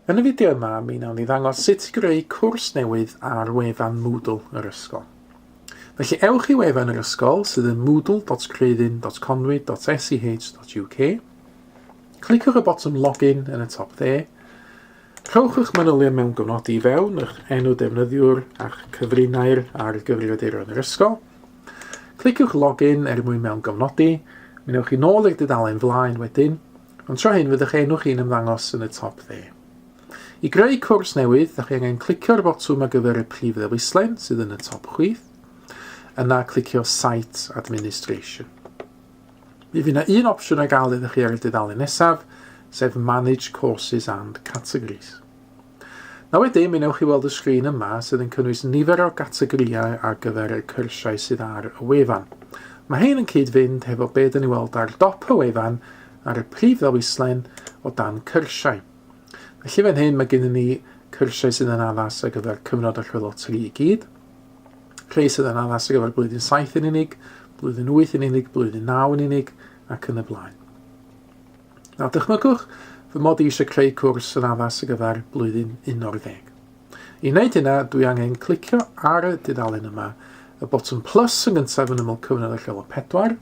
Yn y fideo yma, mi wnawn ni ddangos sut i greu cwrs newydd ar wefan Moodle yr ysgol. Felly ewch i wefan yr ysgol sydd yn moodle.creuddyn.conwy.sch.uk. Cliciwch y botwm login yn y top dde. Rhowch eich manylion mewn gofnodi i fewn, eich enw defnyddiwr a'ch cyfrinair ar gyfrifiaduron yr ysgol. Cliciwch login er mwyn mewn gofnodi. Mi newch chi nôl i'r dudalen flaen wedyn. Ond tro hyn fydd eich enw chi'n ymddangos yn y top dde. I greu cwrs newydd, da chi angen clicio'r botwm ar gyfer y prif ddewislen sydd yn y top chwith, yna clicio Site Administration. Mi fydd yna un opsiwn ar gael iddo chi ar y dudalen nesaf, sef Manage Courses and Categories. Na wedyn, mi wnewch chi weld y sgrin yma sydd yn cynnwys nifer o gategorïau ar gyfer y cyrsiau sydd ar y wefan. Mae hein yn cyd-fynd hefo be dyn ni weld ar dop y wefan ar y prif ddewislen o dan cyrsiau. Felly fan hyn mae gennym ni cyrsiau sydd yn addas ar gyfer cyfnod y rhwylot tri i gyd, rhai sydd yn addas ar gyfer blwyddyn 7 yn unig, blwyddyn 8 yn unig, blwyddyn 9 yn unig, ac yn y blaen. A dychmygwch fy mod i eisiau creu cwrs yn addas ar gyfer blwyddyn 11. I wneud hynna, dwi angen clicio ar y dudalen yma, y botwm plus yn gyntaf yn ymyl cyfnod y lleol 4.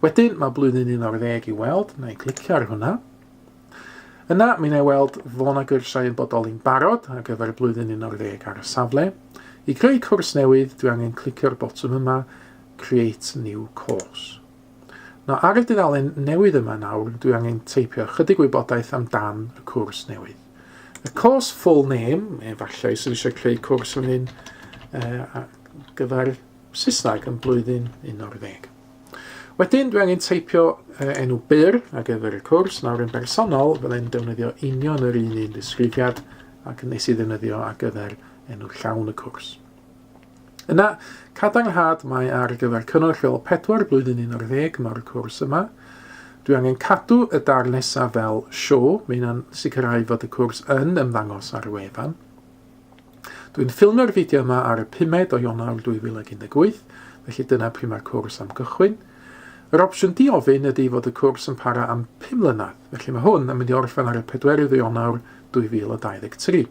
Wedyn mae blwyddyn 11 i weld, na i clicio ar hwnna. Yna, mi na i weld fo na gyrsiau yn bodoli'n barod ar gyfer blwyddyn 11 ar y safle. I greu cwrs newydd, dwi angen clicio'r botwm yma, Create New Course. Nawr, ar y dudalen newydd yma nawr, dwi angen teipio chydig wybodaeth amdan y cwrs newydd. Y course full name, efallai sydd eisiau creu cwrs fan hyn uh, gyfer Saesneg yn blwyddyn 11. Wedyn, dwi angen teipio uh, enw byr ar gyfer y cwrs. Nawr, yn bersonol, fyddai'n defnyddio union yr un un disgrifiad ac nes i ddefnyddio ar gyfer enw llawn y cwrs. Yna, cadarnhad mae ar gyfer cyngor lleol pedwar blwyddyn 11 mae'r cwrs yma. Dwi angen cadw y darn nesaf fel sio, mae hynna'n sicrhau fod y cwrs yn ymddangos ar y wefan. Dwi'n ffilmio'r fideo yma ar y 5 o Ionawr 2018, felly dyna pryd mae'r cwrs am gychwyn. Yr opsiwn diofyn ydy fod y cwrs yn para am 5 mlynedd, felly mae hwn yn mynd i orffen ar y 4 o Ionawr 2023.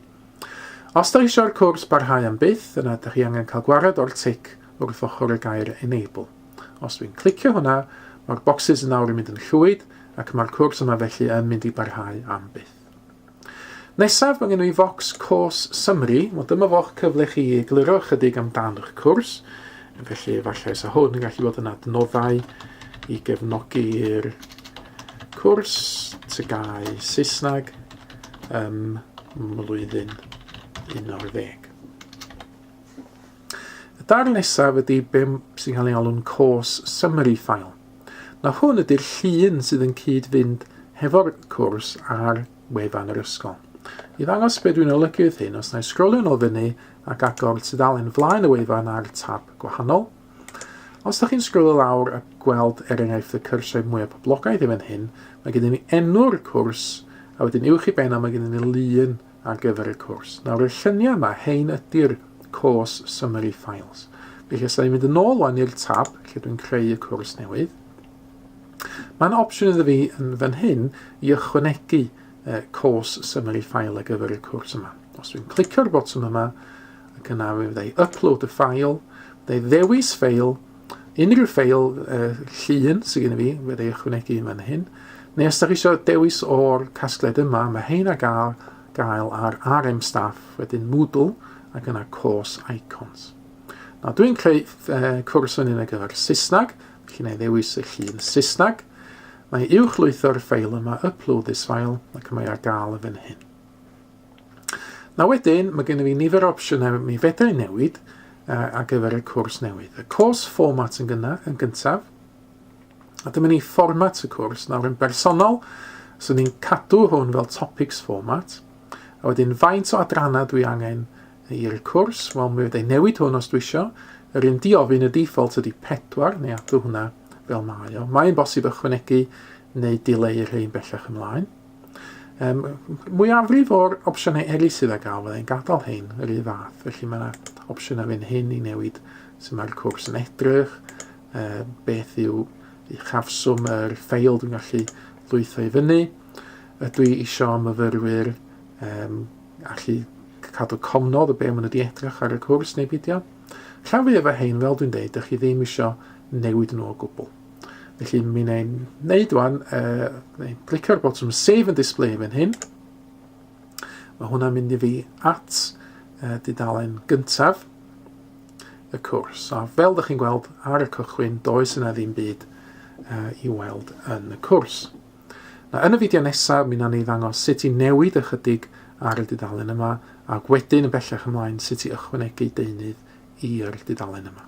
Os da eisiau'r cwrs barhau am byth, yna da chi angen cael gwared o'r tic wrth ochr y gair Enable. Os dwi'n clicio hwnna, mae'r bocsys yn awr yn mynd yn llwyd ac mae'r cwrs yma felly yn mynd i barhau am byth. Nesaf, mae gen i focs cwrs Summary, wel dyma fo'ch cyfle chi i egluro ychydig amdano'ch cwrs, felly efallai sa hwn yn gallu bod yn adnoddau i gefnogi'r cwrs, tygau Saesneg, ym mlwyddyn 11. Y darn nesaf ydy be sy'n cael ei alw'n cos summary file. Na hwn ydy'r llun sydd yn cyd-fynd hefo'r cwrs ar wefan yr ysgol. I ddangos beth dwi'n olygu wrth hyn, os na i sgrolio'n ôl fyny ac agor tudalen flaen y wefan ar tab gwahanol, Os da chi'n sgrolio lawr a gweld er enghraifft y cyrsiau mwyaf poblogaidd i fan hyn, mae gennym ni enw'r cwrs, a wedyn uwch i ben a mae gennym ni lun ar gyfer y cwrs. Nawr y lluniau yma, hein ydy'r course summary files. Felly os da ni'n mynd yn ôl o'n i'r tab lle dwi'n creu y cwrs newydd, mae'n opsiwn iddo fi yn fan hyn i ychwanegu uh, course summary file ar gyfer y cwrs yma. Os dwi'n clicio'r botwm yma, ac yna fe fyddai upload y ffail, fyddai ddewis ffail, unrhyw ffail uh, llun sydd gen i fi, fyddai ychwanegu yma'n hyn, neu os da chi eisiau dewis o'r casgliad yma, mae hein a gael, gael ar RM staff, wedyn Moodle, ac yna course icons. Na, dwi'n creu uh, cwrs yn un ar gyfer Saesneg, felly na i ddewis y llun Saesneg, Mae uwchlwytho'r ffeil yma Upload this file ac mae ar gael yn fan hyn. Na wedyn, mae gennym fi nifer o opsiynau mi fedra i newid uh, ar gyfer y cwrs newydd. Y cwrs format yn gynna, yn gyntaf, a dyma ni fformat y cwrs. Nawr yn bersonol, so ni'n cadw hwn fel topics format, a wedyn faint o adrannau dwi angen I'r cwrs, wel mi fydda i'n newid hwn os dwi isio. Yr un diofyn y default ydy 4, neu adw hwnna fel mae o. Mae'n bosib ychwanegu neu dileu rhain bellach ymlaen. Um, mwyafrif o'r opsiynau eraill sydd â gael, fyddai'n gadael hyn yr un fath, felly mae yna opsiynau fan hyn i newid sy'n mae'r cwrs yn edrych, uh, beth yw uchafswm yr ffeil dwi'n gallu lwytho i fyny, ydw i eisiau myfyrwyr um, allu cadw cofnod o be maen nhw wedi edrych ar y cwrs neu beidio. Rhan fwyaf o hein, fel dwi'n deud, dych chi ddim eisiau newid nhw o gwbl. Felly mi wna i wneud wan, uh, neu glicio'r botwm Save and Display fan hyn. Mae hwnna'n mynd i fi at uh, dudalen gyntaf y cwrs. A fel ydych chi'n gweld ar y cychwyn, does yna ddim byd uh, i weld yn y cwrs. A yn y fideo nesa mi na ni ddangos sut i newid ychydig ar y dudalen yma ac wedyn yn bellach ymlaen sut i ychwanegu deunydd i'r dudalen yma.